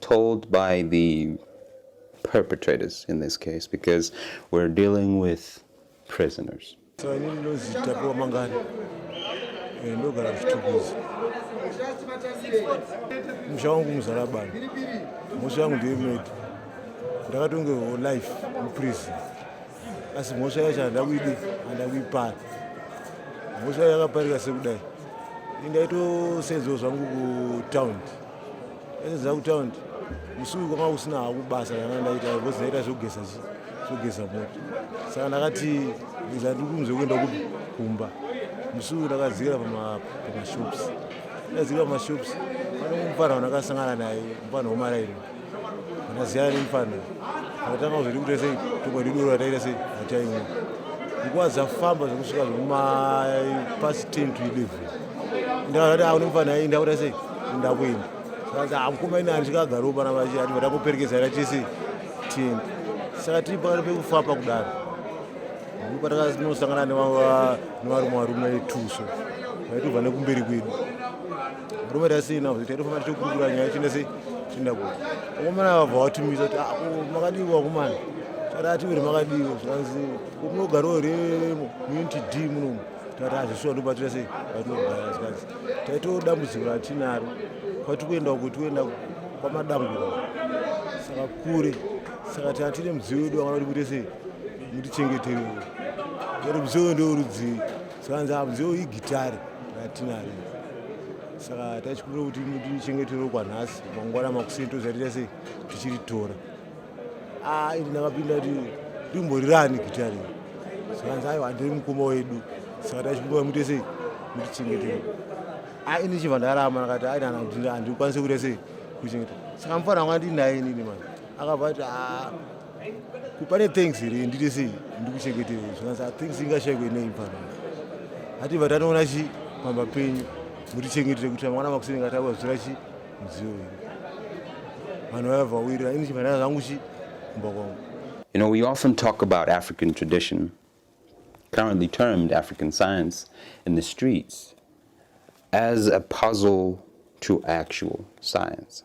told by the perpetrators in this case because we're dealing with prisoners. musha wangu muzarabani mhosva yangu ndeyemeto ndakatongerwawo life muprison asi mhosva yacho handida kuidi handida kuipara mhosva yakaparika sekudai indaitosenzewo zvangu kutaundi Ndaiziva kutaundi musi uyu kwanga kusina haku basa ranga ndaita because ndaita zvekugeza zvekugeza moto saka ndakati iza ndiri kunzwe kuenda kupi kumba musi uyu ndakadzikira pamashops ndakadzikira pamashops pane mupfanha wandakasangana naye mupfanha wemarairwa ndasiyana nemufana akatanga kuzoti kuita sei toko ridoro rataita sei ataimwa nguva dzafamba zvekusvika zvemapasi 10 to 11 ndakazati a nemufana ai ndakuita sei ndakuenda saka hamukoma ini handika agaro pana vachi ati vatakuperekedza ra tese tienda saka tiri pakati pekufamba kudaro ndopatakanosangana nevarume varume tuso vaitobva nekumberi kwedu Murume rasina kuti taitofamba tichikurukura nyaya chine sei tinda kuti vakomana vabva vatumisa kuti ah, makadii vakomana tarati uri makadii zvanzi kunogarwa here muinti d munomu tati hazvisuwa ndobatira sei vatinogara zvanzi taitoo dambudziko ratinaro kwati kuenda kuti kuenda kwamadamburo saka kure saka tatine mudziyo wedu wakana kuti kuite sei mutichengetereo ati mudziyo wendo urudzii zvikanzi hamuzivo igitare ratinaro saka tachikumbira kuti mutichengeterwo kwanhasi mangwana makuseni tozarita sei tichiritora a ah, ini ndakapinda kuti rimborirani gitare zvikanzi aiwa ndiri mukoma wedu saka tachikumbira muite sei mutichengeterwo a ah, ini chibva ndarama ndakati ainana kuti handikwanise kuita sei kuchengeta saka mufana wanga ndinaye inini mani akabva ati a ah, kupane thanks here ndiri sei ndikuchengetei zvinanzi thanks ingashaikwe nei pano ati vatanoona chi pamba penyu mutichengetete kuti mangwana makuseni ngatawa zvira chi mudziyo wenyu vanhu vaya vawirira ini chifanira zvangu chi kumba kwangu You know, we often talk about African tradition, currently termed African science, in the streets as a puzzle to actual science.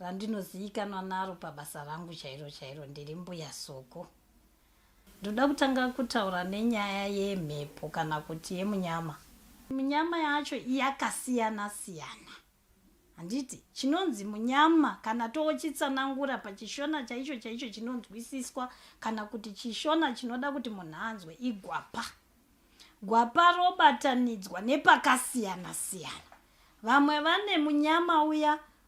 randinozivikanwa naro pabasa rangu chairo chairo ndiri mbuya soko ndoda kutanga kutaura nenyaya yemhepo kana kuti yemunyama munyama yacho yakasiyana siyana handiti chinonzi munyama kana toochitsanangura pachishona chaicho chaicho chinonzwisiswa kana kuti chishona chinoda kuti munhu anzwe igwapa gwapa robatanidzwa nepakasiyana siyana vamwe vane munyama uya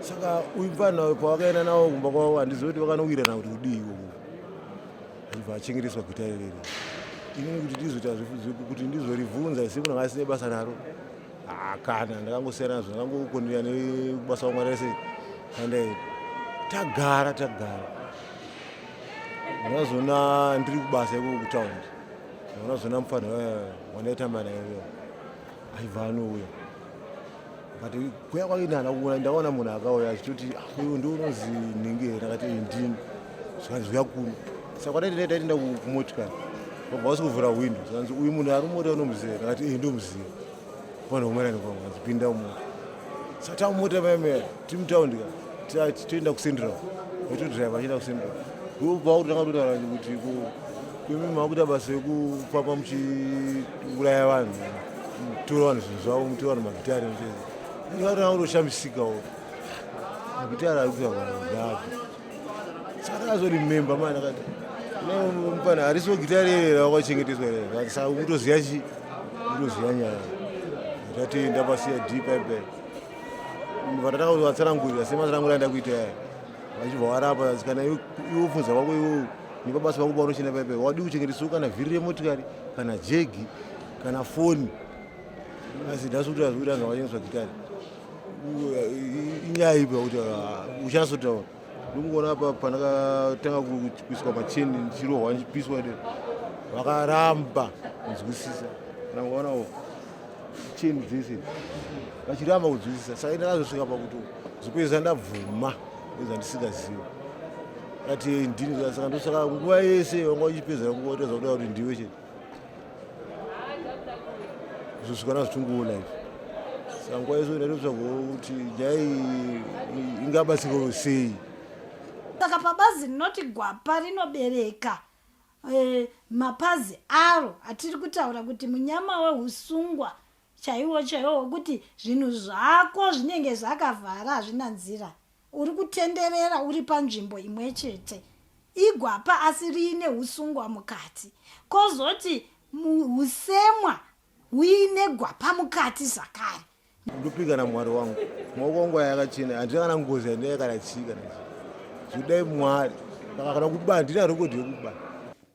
saka uyu mfana kwawakaenda nawo kumba kwavo handizivi kuti vakanowirirana kuti kudii ikoko zvibva achengereswa gwita irerere inini kuti ndizoita kuti ndizorivhunza isi munhu anga asine basa naro hakana ndakangosiyana nazvo ndakangokonera nebasa wamwari rese kandaenda tagara tagara ndazona ndiri kubasa ikoko kutaundi ndazona mufana wandaitamba naye aiva anouya but kuya kwake ndihana kuona ndaona munhu akauya achitoti ah, uyu ndi unozi nhingi here akati ndini zvikanzi zviya kuno saka kwataitenda taitenda kumotikari vabva vasi kuvhura hwindo zvikanzi uyu munhu ari mumota unomuziva akati iyi ndomuziva vanhu vomerani kwangu kanzi pinda mumota saka tamumota maemera tiri mutaundi ka toenda kucentral vachitodriva achienda kucentral vobva vakutanga kutaura kuti kuimi makuita basa yekufamba muchi kuuraya vanhu mutora vanhu zvinhu zvavo mutora vanhu magitari aa unoshamisikawo magitari ari kuita vanhu nyapi saka akazorimemba mani akati mupana harisi wegitari ere rakwachengeteswa ere saka ukutoziva chi ukutoziva nyaya tati ndapasiya d pipe vatatanga kuti vatsanangurira sematsanangurira ndakuita yaya vachibva varapa kana iwo funza vako iwowo Ndipo basa vangu vanochena paipai, wadi kuchengeteswa kana vhiri remotikari kana jegi kana foni. Asi nhasi kuti azvikuti anhu avachengeteswa gitari inyaya ipi yakuti ah, uchasotaura ndikuona apa pandakatanga kuiswa macheni ndichirohwa ndichipiswa de vakaramba kunzwisisa kana kuonawo cheni dzese vachiramba kunzwisisa saka ndakazosvika pakuti zvokuedza ndabvuma nezvandisingaziva ati ndini saka ndosaka nguva yese vanga uchipedzera nguva utadza kuda kuti ndiwe chete zvosvikana zvitunguona izvi saka nguva yese ndatotsvaga kuti nyaya ingabatsiko sei saka pabazi rinoti gwapa rinobereka eh, mapazi aro atiri kutaura kuti munyama wehusungwa chaiwo chaiwo wekuti zvinhu zvako zvinenge zvakavhara hazvina nzira uri kutenderera uri panzvimbo imwe chete igwapa asi riine usungwa mukati kozoti usemwa huine gwapa mukati zvakare ndopika namwari wangu maoko wangu aya akachena handina kana ngozi yandinaya kana chii kana chii zvidai mwari saka kana kuba handina rekodi yekuba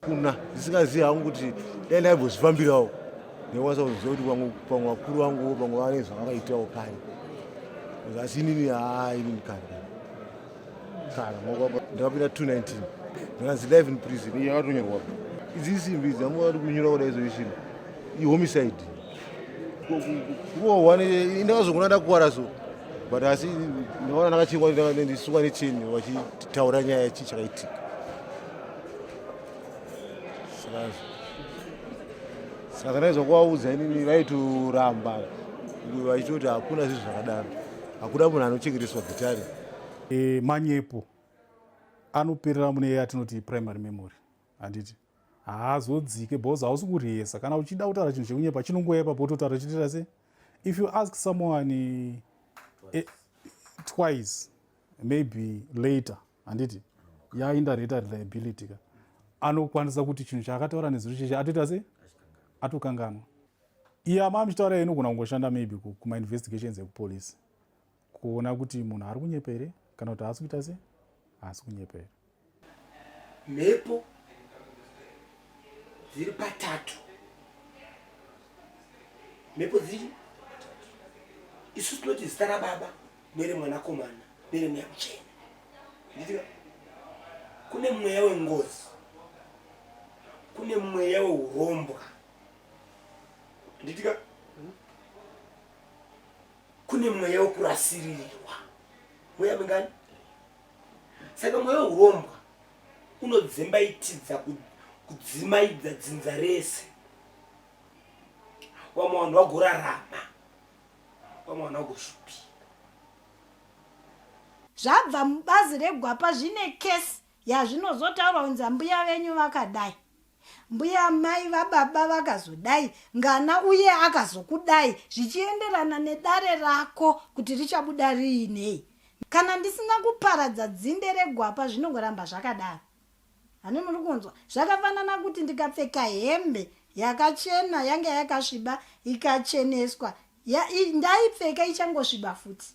kuna ndisingazivi hangu kuti dai ndaibozvifambirawo nekwanisa kuziva kuti vamwe pamwe vakuru vangu pamwe vane zvavakaitawo kare asi inini haa inini kare kare ndakapinda 219 ndikanzi live in prison iyo yakatonyorwa idzi isimbi idzi amwe vari kunyora kuda izo ishiri ihomicide kurohwa ndakazogona ndakuwara so but asi ndakaona ndakachingwa ndisuka necheni vachitaura nyaya chii chakaitika saka ndaiza kuvaudza inini vaitoramba vachitoti hakuna zvinhu zvakadaro hakuna munhu anochengeteswa gitare e, manyepo anoperera mune iye atinoti primary memory handiti haazodzike because hausi kurihesa kana uchida kutaura chinhu chekunyepa chinongoya ipapo utotaura chitira se if you ask someone eh, twice maybe later handiti yaindareta reliability ka anokwanisa kuti chinhu chaakataura nezuro cheche atoita sei atokanganwa iye ama amuchitaura inogona kungoshanda maybe kumainvestigations ekupolice kuona kuti munhu ari kunyepa here kana kuti haasi kuita sei haasi kunyepa here mhepo dziri patatu mhepo dziri isu tinoti zita rababa nere mwanakomana nere mweya muchena nditika kune mweya wengozi kune mweya weurombwa nditika kune mweya wekurasirirwa mweya mingani saka mweya weurombwa unodzimbaitidza kudzimaidza dzinza rese wamwe vanhu vagorarama kwamwana kushupi zvabva mubazi regwapa zvine kesi yazvinozotaurwa kunzi ambuya venyu vakadai mbuya mai vababa vakazodai ngana uye akazokudai zvichienderana nedare rako kuti richabuda riinei kana ndisina kuparadza dzinde regwapa zvinongoramba zvakadaro hani muri kunzwa zvakafanana kuti ndikapfeka hembe yakachena yanga yakasviba ikacheneswa ndaipfeka ichangosviba futi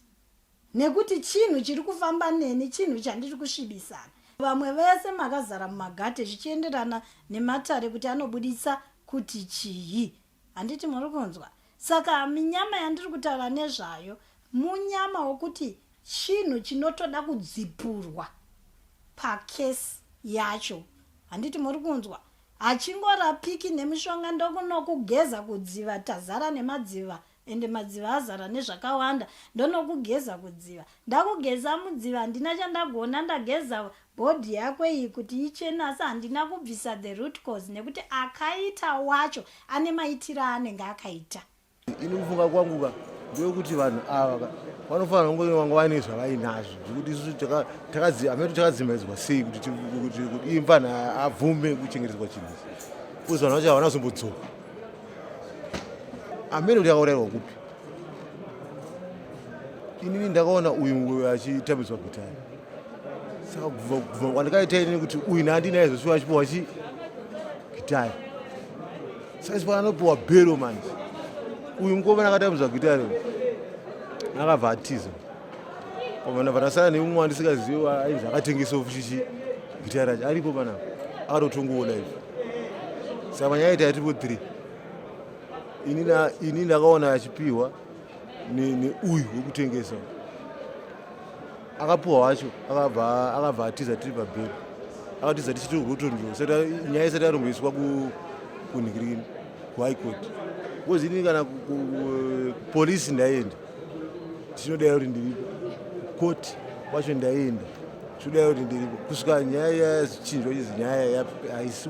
nekuti chinhu chiri kufamba neni chinhu chandiri kusvibisana vamwe vese makazara mumagate zvichienderana nematare kuti anobuditsa kuti chii handiti muri kunzwa saka minyama yandiri kutaura nezvayo munyama wokuti chinhu chinotoda kudzipurwa pakesi yacho handiti muri kunzwa hachingorapiki nemishonga ndokunokugeza kudziva tazara nemadziva ende madziva azara nezvakawanda ndonokugeza kudziva ndakugeza mudziva handina chandagona ndageza Body yako iyi kuti ichene asi handina kubvisa the root cause nekuti akaita wacho ane maitiro aanenge akaita. Ini kufunga kwangu ka ndewekuti vanhu ava ka vanofanira kunge vanga vaine zvavainazvo zvekuti isu takazi amene takadzimaidzwa sei kuti iye mfanha abvume kuchengetedzwa chinhu ichi kuzi vanhu vacho havana zombodzoka amene kuti akaurayirwa kupi inini ndakaona uyu achitambiswa gitari saka kubva kwandakaita inini kuti uyu naandinaye zvosuva achipiwa chi gitari saka chipa anopiwa bhero manje uyu mukoma nakatambiswa gitari akabva atiza pamana panasana neumwe wandisikaziva ainzi akatengesa ofuchichi gitari racho aripo panapa akatotongoona izvi saka manyaya ita yatipo three ini ndakaona achipiwa neuyu wekutengesa akapiwa wacho akabva atiza tiri pabheri akatiza tichiti rotondiro nyaya isati yaromboiswa kunhikirini kuhigh court bcause ini kana kupolisi ndaienda tinodai kuti ndiripo koti kwacho ndaienda tinodai kuti ndiripo kusvika nyaya yaya zichinjwa chizi nyaya haisi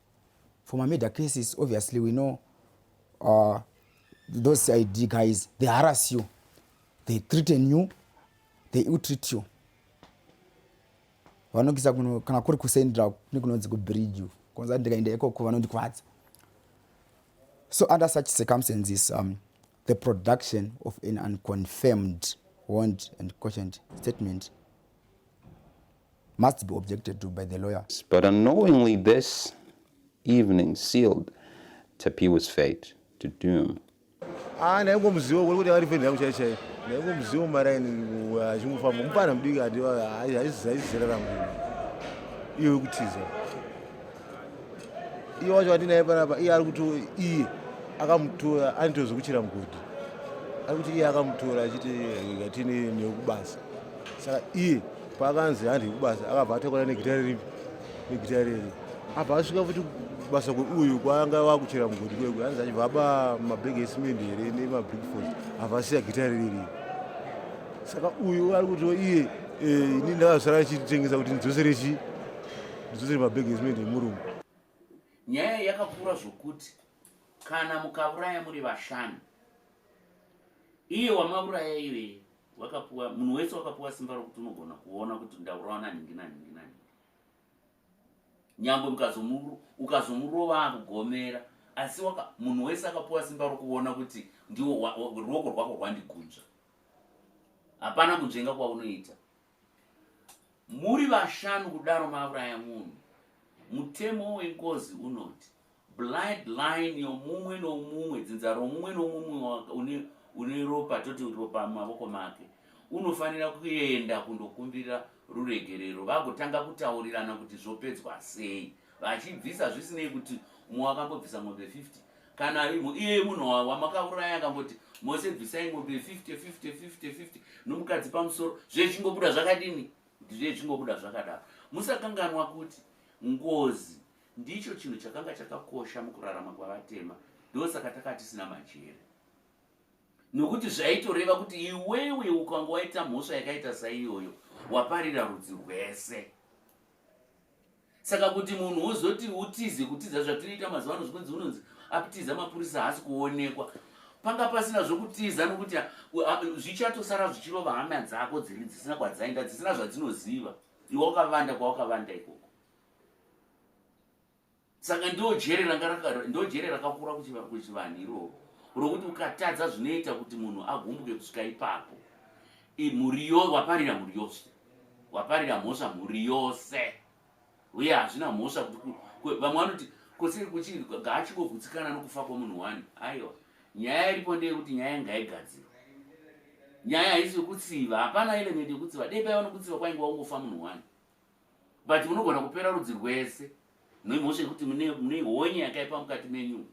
for my murder cases obviously we know uh, those cid guys they harass you they threaten you they ill treat you vanokisa kuno kana kuri kusendra nekunonzi kubridge you konza ndikaenda ikoko vanondikwadza so under such circumstances um, the production of an unconfirmed warrant and cautioned statement must be objected to by the lawyer. But unknowingly this evening sealed Tapiwa's fate to doom. Ah, naiko muzivo kuri kuti ari feni yangu chai chai. Naiko muzivo maraini achingofamba. Mupana mudiki ati haizizera rangu. Iyo yekutiza. Iyo wacho watinaye panapa, iye ari kuto iye akamutora anitozokuchira mugodhi. Ari kuti iye akamutora achiti ngatini nekubasa. Saka iye Pakanzi handi kubasa akabva atakura negita riri negita riri abva asvika futi kubasa uyu kwaanga wakuchera mugodi kwekwe hanzi achibva aba mabhegi esimendi here nemabrikford abva asiya gita ririri saka uyu ari kutiwo iye eh, ini ndakazosara achitengesa kuti ndidzosere chi ndidzosere mabhegi esimendi emurumu nyaya yakakura zvokuti kana mukauraya muri vashanu iye wamauraya iyoye wakapuwa munhu wese wakapuwa simba rokuti unogona kuona kuti ndaurawa nanhingi nanhingi nanhingi nyangwe ukazomurova akugomera asi munhu wese akapuwa simba rokuona kuti ndiwo ruoko rwako rwandigunzva hapana kunzvenga kwaunoita Muri vashanu kudaro mauraya munhu. Mutemo wengozi unoti blood line yomumwe nomumwe, dzinza romumwe nomumwe une, une ropa, toti ropa mumavoko make, unofanira kuenda kundokumbira ruregerero vagotanga kutaurirana kuti zvopedzwa sei. vachibvisa zvisinei kuti umwe wakambobvisa mombe 50 kana imo iye munhu wamakauraya akamboti mose bvisai mombe 50 50 50 50 nomukadzi pamusoro zvechingobuda zvakadini ndizvechingobuda zvakadaro musakanganwa kuti ngozi ndicho chinhu chakanga chakakosha mukurarama kwavatema ndosaka taka tisina majere nokuti zvaitoreva kuti iwewe ukanga waita mhosva yakaita saiyoyo waparira rudzi rwese saka kuti munhu wozoti utize kutiza zvatinoita mazuva ano zvikunzi unonzi aptiza mapurisa haasi kuonekwa panga pasina zvokutiza nokuti zvichatosara zvichirova hama dzako dziri dzisina kwadzaenda dzisina zvadzinoziva iwe wakavanda kwawakavanda ikoko saka ndojere rakakura kuchivanhu iroro rokuti ukatadza zvinoita kuti munhu agumbuke kusvika ipapo mhuri yo waparira mhuri yose waparira mhosva mhuri yose uye hazvina mhosva kuti vamwe vanoti kosei kuchii gaachingovhutsikana nokufa kwomunhu wani aiwa nyaya iripo ndeyekuti nyaya ngaigadzirwa nyaya haisi yokutsiva hapana element yokutsiva dei paiva nokutsiva kwainge waungofa munhu wani but munogona kupera rudzi rwese noimhosva yekuti mune honye yakaipa mukati menyu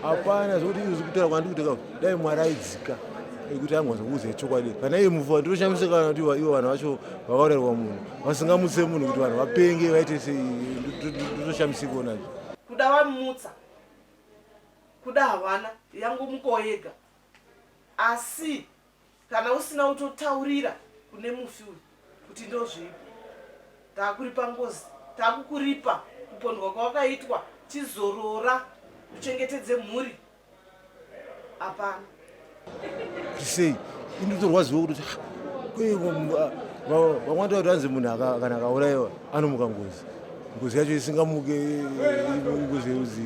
hapana zvokuti izvi zvikutaura kwandiri kuti ka dai mwari aidzika ekuti angonza kuuza chokwadi kana iye mufa ndinoshamisika kana kuti ivo vanhu vacho vakaurayirwa munhu vasingamutse munhu kuti vanhu vapenge vaite sei ndinoshamisika onazvo kuda vamutsa kuda havana yangu muko yega asi Kana usina utotaurira kune mufi uyu kuti ndozvipi. Takuripa ngozi, takukuripa kupondwa kwawakaitwa, chizorora uchengetedze mhuri. Hapana. Sei? Inotorwadziwa kuti ah, kwaiwa vamwati vati vanzi munhu kana akaurayiwa anomuka ngozi. ngozi yacho isingamuke ngozi yeruzi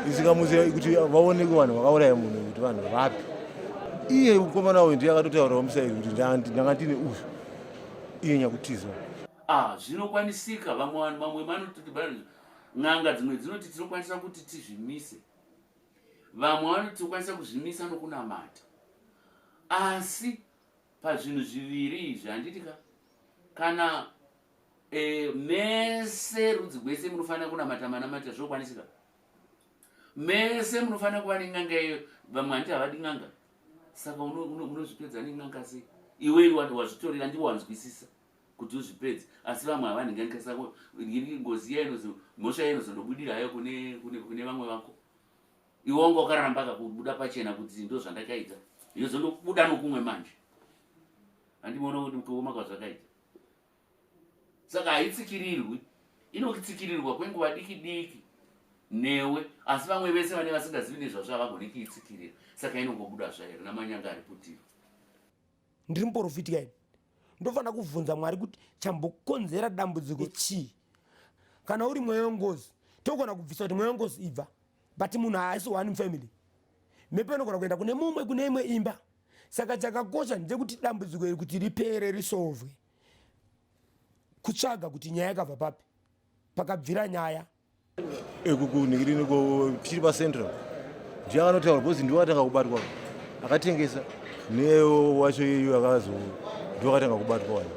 isingamuke kuti vaoneke vanhu vakauraya munhu kuti vanhu vapi iye mukomana uyu ndiye akatotaurawo musairi kuti ndanga ndine uyu iye nyakutiza ah, zvinokwanisika vamwe vanhu vamwe vanoti n'anga dzimwe dzinoti tinokwanisa kuti tizvimise vamwe vanoti tinokwanisa kuzvimisa nokunamata asi pazvinhu zviviri izvi handiti ka kana Eh, mese rudzi gwese munofanira kunamata manamata zvokwanisika mese munofanira kuva nen'anga iyo vamwe handiti havadi n'anga saka unozvipedza nen'anga sei iwe iwe wati wazvitorera ndivo wanzwisisa kuti uzvipedze asi vamwe havanhinganika sako ngozi iya inozo mhosva iya inozondobudira hayo kune vamwe vako iwe wanga wakaramba kakubuda pachena kuti ndo zvandakaita yozondobuda nokumwe manje handimoona kuti kuoma kwazvakaita saka haitsikirirwi inokitsikirirwa kwenguva diki diki newe asi vamwe vese vane vasingazivi nezvazvo havagone kiitsikirira saka inongobuda zvairi namanyanga ari putiro ndiri muporofiti kaini ndofanira kubvunza mwari kuti chambokonzera dambudziko chii kana uri mweya wengozi togona kubvisa kuti mweya wengozi ibva but munhu haasi one family mhepo inogona kuenda kune mumwe kune imwe imba saka chakakosha ndechekuti dambudziko iri kuti ripere risovwe kutsvaga kuti nyaya yakabva papi pakabvira nyaya ekukunhikirini chiri pacentral ndiye akanotaura because ndiwo atanga kubatwa akatengesa newacho iyu akazo ndiwo akatanga kubatwa wani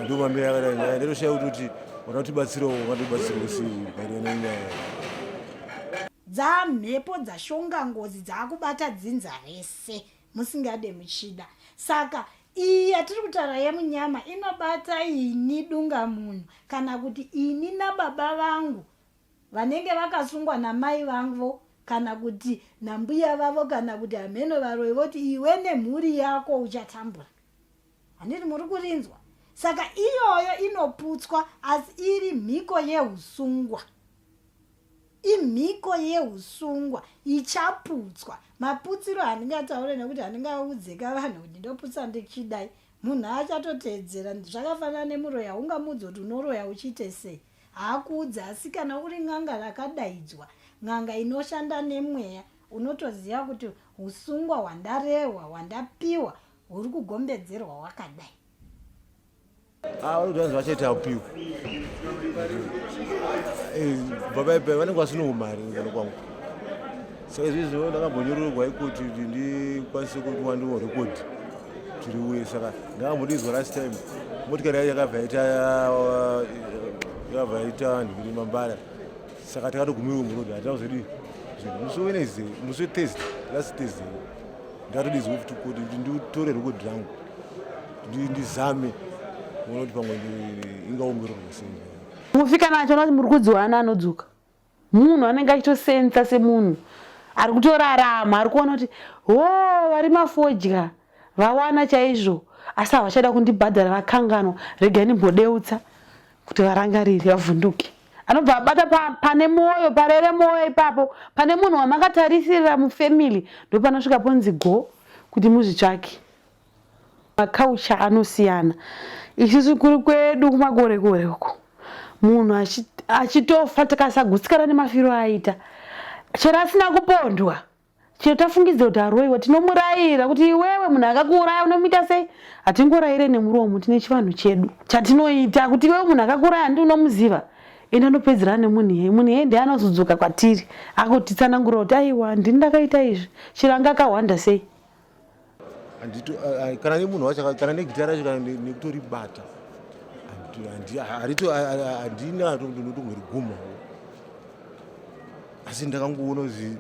Ndio mambo ya wala nyaya ndio shau tuti wanati batsiro wanati batsiro si kairo na nyaya. Dza mhepo dza shonga ngozi dza kubata dzinza rese musingade muchida. Saka iyi yatiri kutaura yemunyama inobata ini dunga munhu kana kuti ini nababa vangu vanenge vakasungwa namai vangu kana kuti nambuya vavo kana kuti hameno varoyi voti iwe nemhuri yako uchatambura handiti muri kurinzwa saka iyoyo inoputswa asi iri mhiko yeusungwa imhiko yeusungwa ichaputswa maputsiro handingataure nekuti handingaudzeka vanhu kuti ndoputsa ndichidai munhu achatoteedzera zvakafanana nemuroya ungamudzi kuti unoroya uchiite sei haakuudze asi kana uri n'anga rakadaidzwa n'anga inoshanda nemweya unotoziva kuti usungwa hwandarehwa hwandapiwa huri kugombedzerwa wakadai avanodazvi ah, vachaita apiwa eh, baba ipa vanenge vasinoumari ngano kwangu saka izvi zvino ndakambonyorerwa ikoti kuti ndikwanise kuti wandiwo rekodhi tiri uye saka ndakambondiizwa last time motikari yacho yakabva yaita uh, yakabva yaita vanhu kuti mambara saka takatogumirwa murodhi hatina kuzodii musi wenezday musi wethursday last thursday ndakatodizwa futi kuti kuti nditore rekodhi rangu ndizame kuona kuti pamwe ingaongororwa sei mufi kana achiona kuti muri kudziwana anodzoka munhu anenge achitosensa semunhu ari kutorarama ari kuona kuti ho vari mafodya vawana chaizvo asi havachada kundibhadhara vakanganwa regai ndimbodeutsa kuti varangarire vavhunduke anobva abata pane mwoyo parere mwoyo ipapo pane munhu wamakatarisirira mufamily ndopanosvika ponzi go kuti muzvitsvake Maculture anosiyana. Isusu kuri kwedu kumakore kore uko munhu achitofa tikasagutsikana nemafiro aita chero asina kupondwa chero tafungidza kuti aroiwa tinomurayira kuti iwewe munhu akakuuraya unomuita sei hatingorayire nemuromo tine chivanhu chedu chatinoita kuti iwewe munhu akakuuraya handi unomuziva ende anopedzerana nemunhu iyeye munhu iyeye ndiye anozodzoka kwatiri akutitsanangura kuti aiwa ndini ndakaita izvi chero anga akahwanda sei kana nemunhu wacho kana negita racho kana nekutoribata handina ndotomwe riguma asi ndakangoona kuti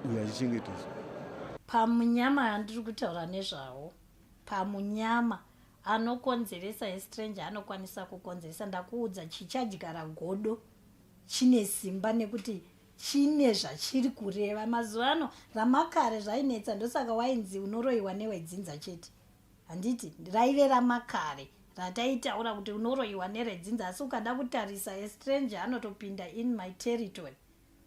uyo achichengeteswa pamunyama andiri kutaura nezvawo pamunyama anokonzeresa estranger anokwanisa kukonzeresa ndakuudza chichadyara godo chine simba nekuti chine zvachiri kureva mazuva ano ramakare zvainetsa ndosaka wainzi unoroyiwa newedzinza chete handiti raive ramakare rataitaura kuti unoroyiwa neredzinza asi ukada kutarisa estranger anotopinda in my territory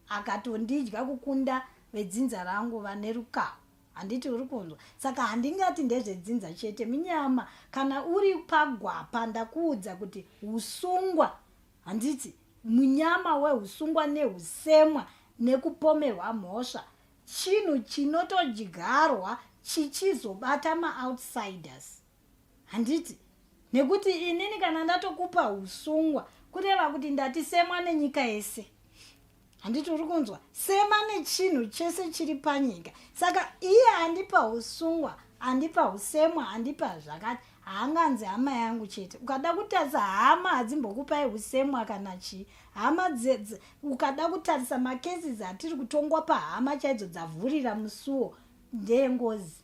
akatondidya kukunda vedzinza rangu vane rukaho handiti uri kunzwa saka handingati ndezvedzinza chete minyama kana uri pagwapa ndakuudza kuti usungwa handiti munyama wehusungwa nehusemwa nekupomerwa mhosva chinhu chinotodyarwa chichizobata maoutsiders handiti nekuti inini kana ndatokupa usungwa kureva kuti ndatisemwa nenyika yese handiti uri kunzwa sema nechinhu chese chiri panyika saka iye andipa usungwa andipa usemwa andipa zvakati haanganzi hama yangu chete ukada kutarisa hama hadzimbokupai usemwa kana chii hama ukada kutarisa makesis atiri kutongwa pahama chaidzo dzavhurira musuwo ndeyengozi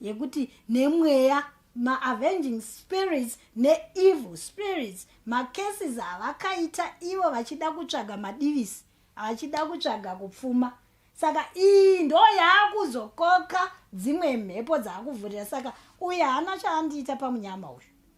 yekuti nemweya maavenging spirits neevil spirits macases avakaita ivo vachida kutsvaga madivisi vachida kutsvaga kupfuma saka iyi ndo yaakuzokoka dzimwe mhepo dzaakuvhurira saka uye haana chaandiita pamunyama uyu